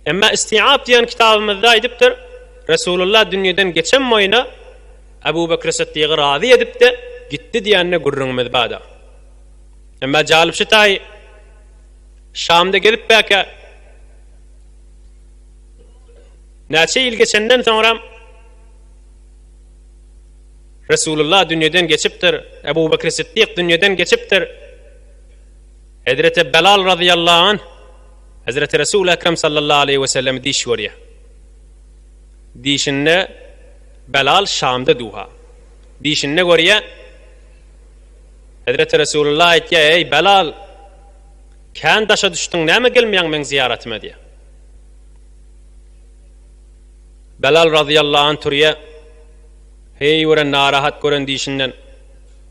Emma Istiab diýen kitabymyzda aýdypdyr, Resulullah dünýeden geçen boýuna Abu Bekri Sytdygy razy edip-de gitdi diýende gürrüňimiz bada. Emma jalypsy taýy Şamda gezip bäkä näçe ýyl geçenden soňram Resulullah dünýeden geçipdir, Abu Bekri Sytdyk dünýeden geçipdir. Hezreti Belal razyýallahu anh Hezreti Resul Ekrem sallallahu aleýhi we sellemi diş görýär. Dişinde Belal Şamda duha. Dişinde görýär. Hezreti Resulullah aýtýar, "Eý Belal, kän daşa düşdüň, näme gelmeýäň meň zyýaratyma?" diýär. Belal razyýallahu anh turýar. Heý gören narahat gören dişinden.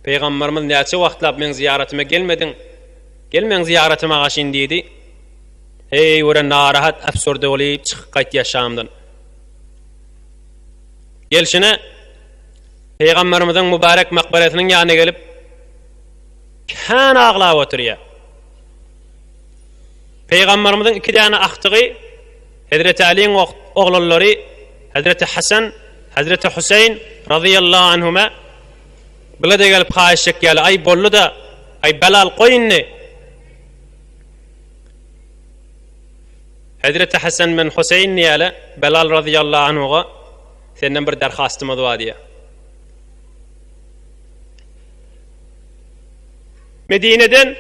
Pygamberimiz näçe wagtlap meň zyýaratyma gelmediň? Gel meň zyýaratyma agaşyn diýdi. Heý gören narahat äfsürde bolup çykyp gaýt ýaşamdan. Gelşine Pygamberimiziň mübarek makbarasynyň ýanyna gelip kän aglap oturýar. Pygamberimiziň iki däne agtygy Hezreti Aliň oglanlary Hezreti Hasan, Hezreti Husayn razyýallahu anhuma Bile-de gelip haýyş çekýärler. Aý, boldy-da. Aý, Belal, goý indi! Hezreti Hasan bilen Huseýin diýýärler, Belal razyýallahu anhuga senden bir derhastymyz bar diýýär. Medineden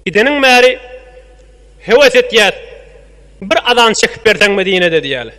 gideniň bäri höwes etýäs. Bir azan çekip berseň Medinede diýýärler.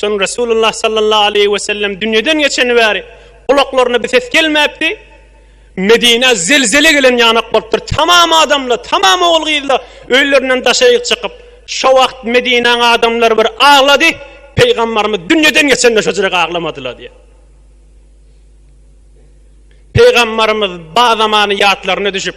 Soň Resulullah sallallahu aleýhi we sellem dünýeden geçeni bäri gulaklaryna bir ses gelmäpdi. Medinä zelzele gelen ýanak bolupdyr. Tamam adamlar, tamam ogul-gyzlar öýlerinden daşaýyk çykyp, şo wagt Medinäň adamlary bir aglady. Pygambarymyz dünýeden geçende şojrek aglamadylar diýip. Pygambarymyz ba zamany ýatlaryna düşüp,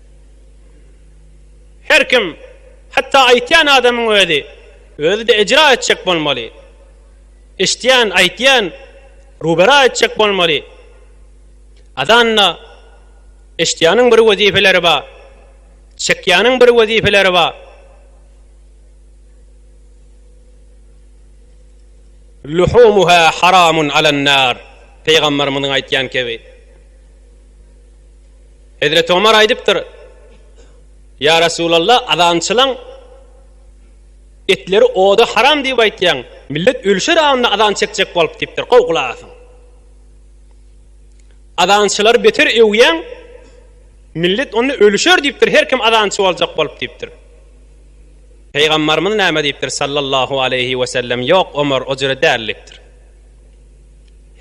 Her kim, hatda aýtýan adamyň özi, özi-de ejra etjek bolmaly. Eşitýän, aýtýan rubera etjek bolmaly. Azanda eşitýäniň bir wezipeleri bar, çekýäniň bir wezipeleri bar. Luhumuha haramun alan-nar, Pygamberimiziň aýtýan kebi. Hezreti Omar aýdypdyr, Ýa Resulalla, azançylaň etleri oda haram diýip aýtýaň, millet ölşer aňynda azan çekjek bolup diýipdir, gowy gulak asyň. Azançylary beter öwýäň, millet onda ölşer diýipdir, her kim azançy boljak bolup diýipdir. Pygambarymyz näme diýipdir sallallahu aleýhi wesellem, Ýok Omar, o jüre däl diýipdir.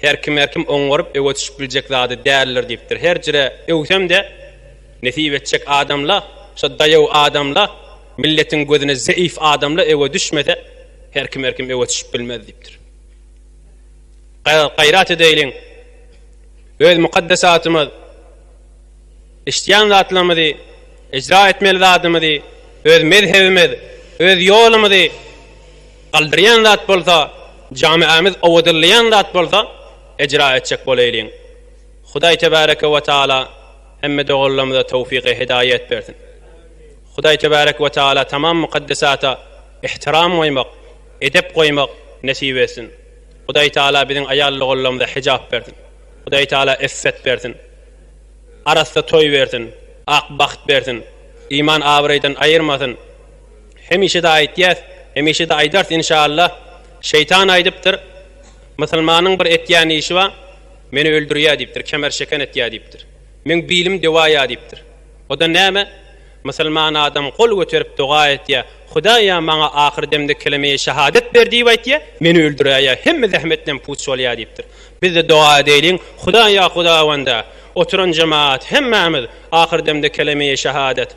Her kim her kim oňaryp öwe düşüp biljek zady däldir diýipdir. Her jire öwsem-de nesip etjek adamla, şo daýaw adamla, milletiň gözüne zeýif adamla öwe düşmese her kim her kim öwe düşüp bilmez diýipdir. Gaýrat edeýliň öz mukaddesatymyz işdýän zatlarymyzy, ejra etmeli zadymyzy, öz mezhebimiz, öz ýolumyzy, Galdyrýan zat bolsa, jamiämiz owadanlaýan zat bolsa, ejra etjek bolaýlyň. Hudaý Tebareke we Taala hemme doganlarymyza towfygy hidaýat bersin. Hudaý Tebareke we Taala tamam mukaddesata ihtiram goýmak, edep goýmak nesip etsin. Hudaý Taala biziň aýal doganlarymyza hijap bersin. Hudaý Taala iffet bersin. Arassa toý bersin. Ak bagt bersin. Iman abraýdan aýyrmasyn. Hemişe-de aýtýas, hemişe-de aýdarys inşallah. Şeýtan aýdypdyr, Musulmanyň bir etýän işi bar, meni öldürýär diýipdir, kemer şeken etýär diýipdir. Meň bilim dewaýa diýipdir. O-da näme? Musulman adam gol göterip doga etýär, Hudaýa maňa ahyr demde keleme-i şahadet ber diýip aýtýar, meni öldüräýýär, hemme zähmetlem puç bolýar diýipdir. Biz-de doga edeýliň, Hudaýa Hudawanda, oturan jemagat, hemmämiz ahyr demde keleme-i şahadet,